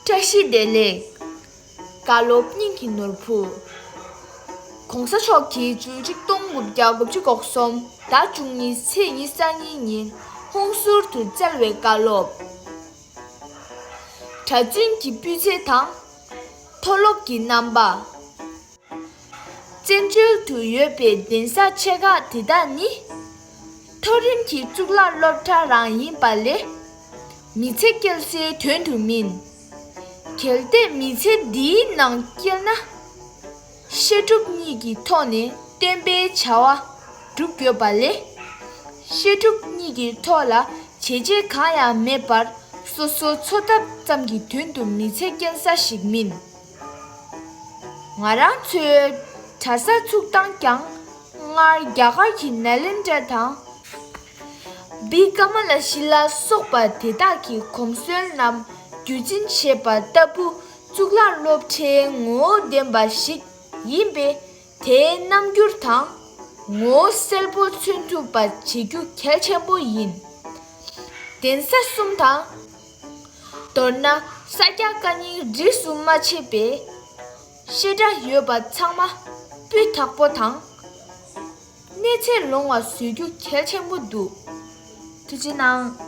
བཀྲ་ཤིས་བདེ་ལེགས། བཀའ་སློབ་སྙིང་གི་ནོར་བུ། ྋགོང་ས་མཆོག་གིས་བཅུ་གཅིག་སྟོང་དགུ་བརྒྱ་དགུ་བཅུ་གོ་གསུམ་ཟླ་བཅུ་གཉིས་ཚེས་ཉི་གསར་རྙིང་ཉིན་ཧུང་ཟུར་དུ་བསྩལ་བའི་བཀའ་སློབ་གྲྭ་བཙུན་གྱི་སྤུས་ཚད་དང་མཐོ་སློབ་ཀྱི་རྣམ་པ། བཙན་བྱོལ་དུ་ཡོད་པའི་གདན་ས་ཆེ་ཁག་དེ་དག་ནི། མཐོ་རིམ་གྱི་གཙུག་ལག་སློབ་གྲྭ་རང་ཡིན་པ་ལས། མི་ཚེ་སྐྱེལ་སའི་དོན་དུ་མིན། གལ་ཏེ་མི་ཚེ་འདིའི་ནང་སྐྱེལ་ན། བཤད་སྒྲུབ་གཉིས་ཀྱི་ཐོག་ནས་བསྟན་པའི་བྱ་བ་སྒྲུབ་དགོས་པ་ལས། བཤད་སྒྲུབ་གཉིས་ཀྱི་ཐོག་ལ་བྱས་རྗེས་གང་ཡང་མེད་པར་སོ་སོའི་འཚོ་ཐབས་ཙམ་གྱི་དོན་དུ་མི་ཚེ་སྐྱེལ་ས་ཞིག་མིན། ང་རང་ཚོའི་གྲྭ་ས་ཚུགས་སྟངས་ཀྱང་སྔར་རྒྱ་གར་གྱི་ནཱ་ལེནྡྲ་དང། བི་ཀ་མ་ལ་ཤི་ལ་སོགས་པ་དེ་དག་གི་གོམས་སྲོལ་རྣམས་རྒྱུད་འཛིན་བྱེད་པ་ལྟ་བུ་གཙུག་ལག་སློབ་གྲྭའི་ངོ་བོ་ལྡན་པ་ཞིག་ཡིན་པས། དེའི་རྣམ་འགྱུར་དང་ངོ་བོ་གསལ་པོ་མཚོན་ཐུབ་པ་བྱེད་རྒྱུ་གལ་ཆེན་པོ་ཡིན། གདན་ས་གསུམ་དང། མདོར་ན་ས་སྐྱ་བཀའ་རྙིང་རིས་སུ་མ་ཕྱེས་པའི་བཤད་གྲྭ་ཡོད་པ་ཚང་མ་སྤུས་དག་པོ་དང། གནས་ཚད་ལོང་བ་བཟོས་རྒྱུ་གལ་ཆེན་པོ་འདུག་ཐུགས་རྗེ་གནང།